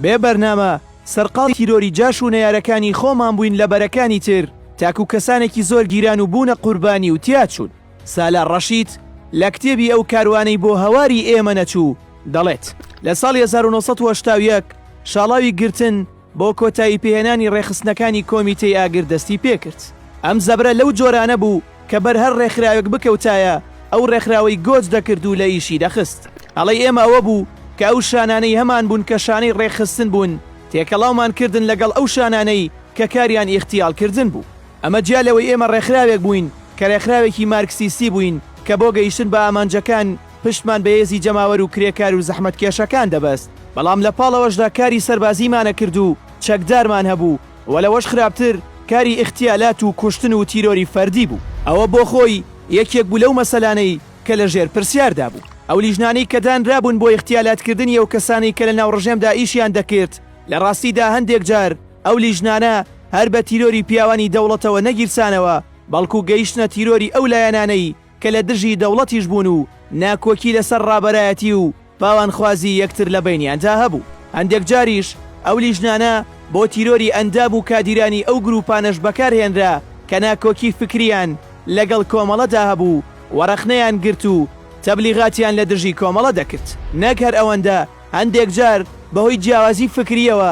بێ بەرنامە سەرقاڵی تیرۆری جاش و نەیارەکانی خۆمان بووین لە بەرەکانی تر تاکو کەسانێکی زۆر گیران و بوونە قوربانی و تیاچوون. سالار ڕەشید لە کتێبی ئەو کاروانەی بۆ هەواری ئێمە نەچوو دەڵێت، لە ساڵی هەزار و نۆ سەد و هەشتا و یەک شاڵاوی گرتن بۆ کۆتاییپێهێنانی ڕێکخستنەکانی کۆمیتەی ئاگر دەستی پێکرد. ئەم زەبرە لەو جۆرانە بوو، کە بەر هەر ڕێکخراوێک بکەوتایە ئەو ڕێکخراوەی گۆج دەکرد و لە ئیشی دەخست. هەڵەی ئێمە ئەوە بوو کە ئەو شانانەی هەمان بوون کە شانەی ڕێکخستن بوون تێکەڵاومان کردن لەگەڵ ئەو شانانەی کە کاریان ئیغتیال کردن بوو. ئەمە جیا لەوەی ئێمە ڕێکخراوێک بووین کە ڕێکخراوێکی مارکسیستی بووین کە بۆ گەیشتن بە ئامانجەکان پشتمان بە هێزی جەماوەر و کرێکار و زەحمەتکێشەکان دەبەست بەڵام لە پاڵەوەشدا کاری سەربازیمانەکرد و چەکدارمان هەبوو وە لەوەش خراپتر کاری ئیختیالات و کوشتن و تیرۆری فەردی بوو ئەوە بۆ خۆی یەکێک بوو لەو مەسەلانەی کە لە ژێر پرسیاردا بوو ئەو لیژنانەی کە دانرابوون بۆ ئیختیالات کردنی ئەو کەسانەی کە لەناو ڕژێمدا ئیشیان دەکرد لە ڕاستیدا هەندێک جار ئەو لیژنانە هەر بە تیرۆری پیاوانی دەوڵەتەوە نەگیرسانەوە بەڵکو گەیشتنە تیرۆری ئەو لایەنانەی کە لە دژی دەوڵەتیش بوون و ناکۆکی لەسەر ڕابەرایەتی و پاوانخوازی یەکتر لە بەینیاندا هەبوو. هەندێک جاریش ئەو لیژنانە بۆ تیرۆری ئەندام و کادیرانی ئەو گرووپانەش بەکار هێنرا کە ناکۆکی فکرییان لەگەڵ کۆمەڵەدا هەبوو و ڕەخنەیان گرت و تەبلیغاتیان لە دژی کۆمەڵە دەکرد. نەک هەر ئەوەندە، هەندێک جار بەهۆی جیاوازی فکرییەوە،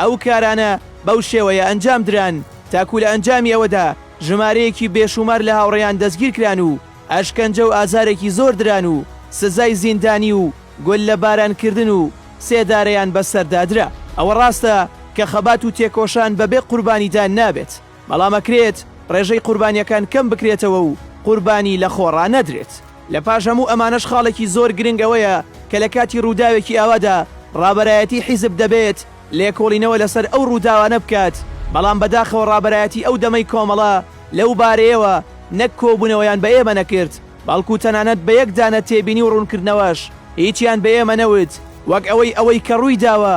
ئەو کارانە بەو شێوەیە ئەنجام دران تاکوو لە ئەنجامی ئەوەدا ژمارەیەکی بێشوومار لە هاوڕێیان دەستگیر کران و ئەشکەنجە و ئازارێکی زۆر دران و سزای زیندانی و گوللە باران کردن و سێدارەیان بەسەردا درا. ئەوە ڕاستە کە خەبات و تێکۆشان بەبێ قوربانیدان نابێت. بەڵام ئەکرێت ڕێژەی قوربانیەکان کەم بکرێتەوە و قوربانی لە خۆڕا نەدرێت. لە پاش هەموو ئەمانەش خاڵێکی زۆر گرنگ ئەوەیە کە لە کاتی ڕووداوێکی ئاوادا ڕابەرایەتی حیزب دەبێت لێکۆڵینەوە لەسەر ئەو ڕووداوانە بکات بەڵام بەداخەوە ڕابەرایەتی ئەو دەمەی کۆمەڵە لەو بارەیەوە نەک کۆبوونەوەیان بە ئێمە نەکرد بەڵکو تەنانەت بە یەک دانە تێبینی و ڕوونکردنەوەش هیچیان بە ئێمە نەوت وەک ئەوەی ئەوەی کە ڕوویداوە